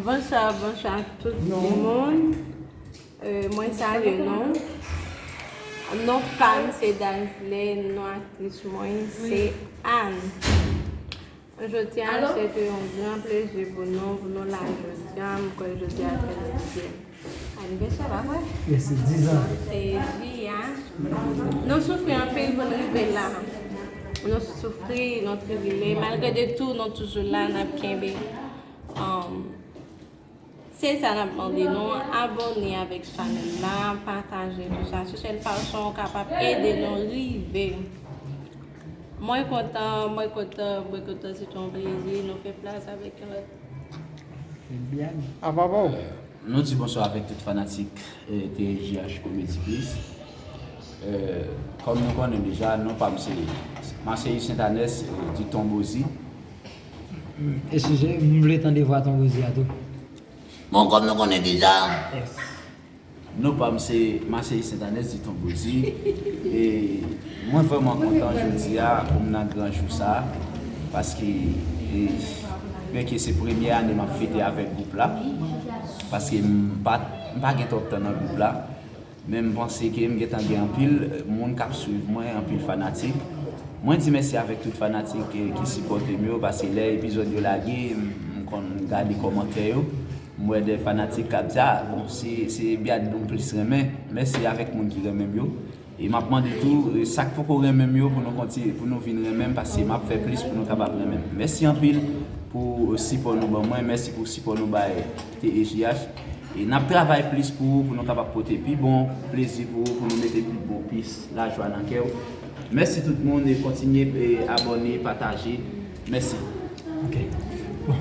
Bonswa bonswa tout moun Mwen salye nou Non pam se Dazle Non aktris mwen se Anne Jodi a se te yon gran plezi pou nou Pou nou la jodi a Mwen kwè jodi a se yon gran plezi Anivèsè la vre? Mesi 10 ans. Se vi a. Nou soufri anpil pou n rive la. Nou soufri, nou tribile. Malgre de tou nou toujou la nap kenbe. Se sa nap mande nou abone avek chanel la, pataje tout sa. Se sel fason ou kapab ede nou rive. Mwen kontan mwen kontan mwen kontan se ton plezi nou fè plas avèk yon lòt. Nou di bonswa avèk tout fanatik TSJH Comedy Biz Kòm nou konnen deja non pam se Marcellus Saintanès di Ton Bozi. Eskize m vle tande vwa Ton Bozi a tou. Bon kòm nou konnen deja. Non pam se Marcely Saintanès di ton Bouzi e mwen vrèman kontan jodia pou m nan gran jou sa paske byenke se premye ane map fete avèk gwoup la paske m pa gen twòp tan nan gwoup la men m panse ke m gentan gen anpil moun kap swiv mwen anpil fanatik mwen di mèsi avèk tout fanatik ki sipòte m yo paske lè epizòd yo lage m konn gade kòmantè yo. M wè 2 fanatik kap di a bon se Biadh nou plis renmen mèsi avèk moun ki renmenm yo e map mande tou sak poko renmenm yo pou nou kontinye pou nou vin renmenm paske map fè plis pou nou kapab renmenm mèsi anpil pou sipò nou ban mwen mèsi pou sipò nou bay TEJH e nap travay plis pou ou pou nou kapab pote pi bon plezi pou ou pou nou mete pi bon plis lajwa nan kèw mèsi tout moun e kontinye abòne pataje mèsi ok bon.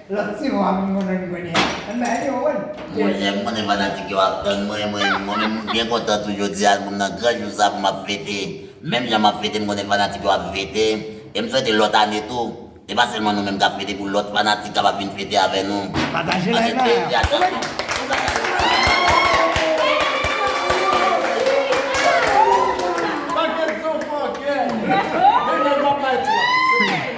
Lot ti vo a moun konnen m kounye a. An bay li yon wonn. Mwen menm m konnen fanatik yo ap tann mwen mwen menm m byen kontan tou jodi a pou m nan gran jou sa pou m ap fete menm jan m ap fete m konnen fanatik yo ap fete e m swete lòt ane tou e pa sèlman nou menm k ap fete pou lòt fanatik kapab vin fete avè nou pataje like la e atann nou pou bagay yo ka vin pi bèl.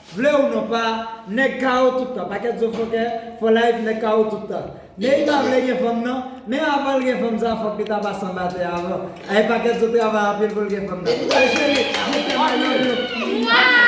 Vle ou non pa nèg kawo tout tan pakèt zo fòkè for life nèg kawo tout tan Neyi pa vle gen fanm nan men avanl gen fanm sa fòk li ta pase anba tè avan ayy pakèt zo travay anpil poul gen fanm nan Kote Jerry Mwen fè may love you Mwah.